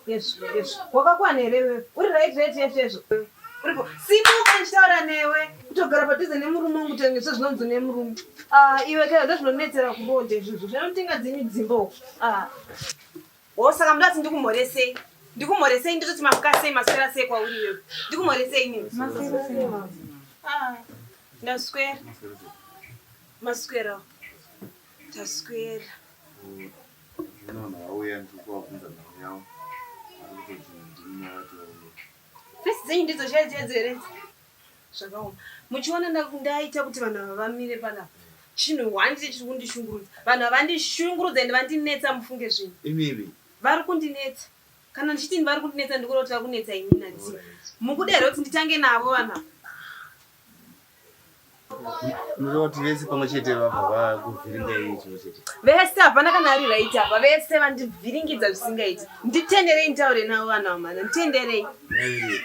Yesvo, yesvo. Wakakwana here iwewe? Uri right right yesvo yesvo. Uripo. Simuka ndichitaura newe. Kutogara padhuze nemurume wangu tenge sezvinonzi nemurume. Ah, iwe kaya ndozvinonetsera kubonde izvozvo. Zvinotinga dzimi dzimbo. Ah. Oh, saka mndu ati ndikumhoresei? Ndikumhoresei ndototi mamuka sei maswera sei kwauri iwewe? Ndikumhoresei nini? Ah, ndaswera. Maswera. Taswera. Fesi dzenyu ndidzo chaidzo yadzo here? Zvakaoma. Muchiona ndaita kuti vanhu ava vamire panapa. Chinhu one chete chiri kundishungurudza. Vanhu havandishungurudza and vandinetsa mufunge zvinhu. Imivi. Vari kundinetsa. Kana ndichiti vari kundinetsa ndikuda kuti vari kunetsa ini nani. Mukuda here kuti nditange navo vanhu ava? Unoda kuti vese pamwe chete vabva vakuvhiringa iye chimwe chete. Vese hapana kana ari right apa vese vandivhiringidza zvisingaiti. Nditenderei nditaure navo vana vamana nditenderei.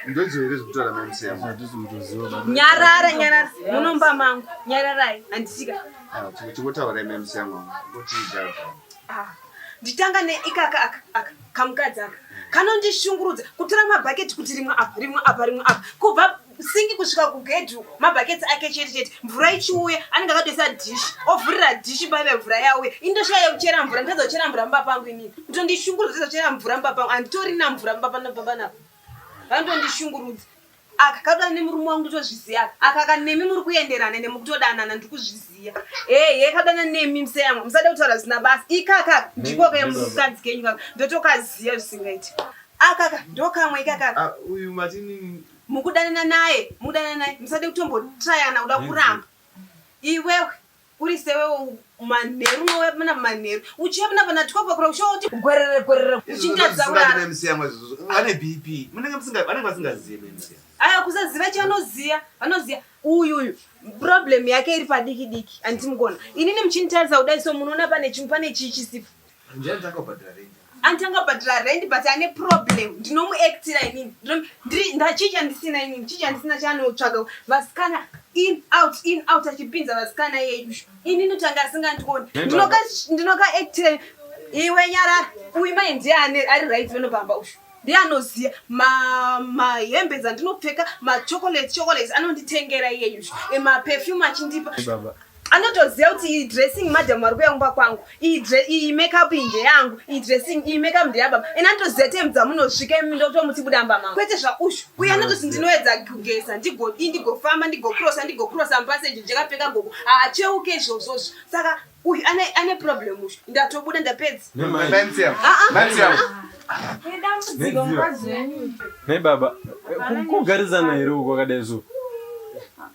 Ndodziwo here zvekutaura mamusiya mudhuzi mutoziwa baba. Nyarara nyarara munomba mangu nyararai handisika. Ah, Tingotaura mamusiya yangu kuti idhaa. Ah, nditanga neikaka aka aka kamukadzi aka kanondishungurudza kutora mabhaketi kuti rimwe apa rimwe apa rimwe apa kubva singi kusvika kugedhu mabhaketsi ake chete chete mvura ichiuya anenge akatoisa dhishi ovhurira dhishi paive mvura yauya indoshaya yekuchera mvura nditadza kuchera mvura mumba pangu inini kutondishungurudza nditadza kuchera mvura mumba pangu anditorina mvura mumba panopapanapa vanotondishungurudza aka kakuda nemurume wangu nditozviziva aka aka nemi muri kuenderana nemukutodanana ndiri kuzviziva heye kadana nemi mseyamwa musada kutaura zvisina basa ikakaka ndiko kemukadzi kenyu kaka ndotokaziva zvisingaiti akaka ndokamwe ikakaka ah, uyu matini mukudanana naye mudanana naye musade kutombotrayana kuda kuramba iwewe uri sewewo manheru mowepana manheru uchiyapana pana twelve o'clock uchoti gwerere gwerere uchitadza kurara vane bp munenge musinga vanenge vasingazive mc aya kusaziva chanoziya vanoziya uyu uyu problem yake iri padiki diki anditi mukona inini muchinditarisa kudai so munoona pane chimwe pane chii chisipo Ndiani takabhadhara rent? Anti angabhadhara rent but ane problem. Ndinomuactira inini. Ndinomu- ndiri- nda- chii chandisina inini? Chii chandisina chaanotsvaga? Vasikana in out in out achipinza vasikana yedu. Inini kuti anga asingandioni. Nenda- Ndinoka ndinokaactira ini. iwe nyarara. Uyu mai ndiye ane ari right vano pamba uyu. Ndiye anoziva ma mahembe dzandinopfeka, ma chocolate chocolates anonditengera iyeyu. Ema perfume achindipa. Baba, anotoziva kuti iyi dressing madam vari kuya kumba kwangu iyi makeup iyi ndeyangu iyi dressing iyi makeup ndeyababa ena anotoziva time dzamunosvika imi ndotomuti buda mba mangu kwete zvaushu uye anototi ndinoedza kugeza ndigodii ndigofamba ndigokrosa ndigokrosa mupaseji ndikapfeka gogo haacheuke izvozvozvo saka uyu ane problem ushu ndatobuda ndapedza nebaba kugarisana here uko akadai zvo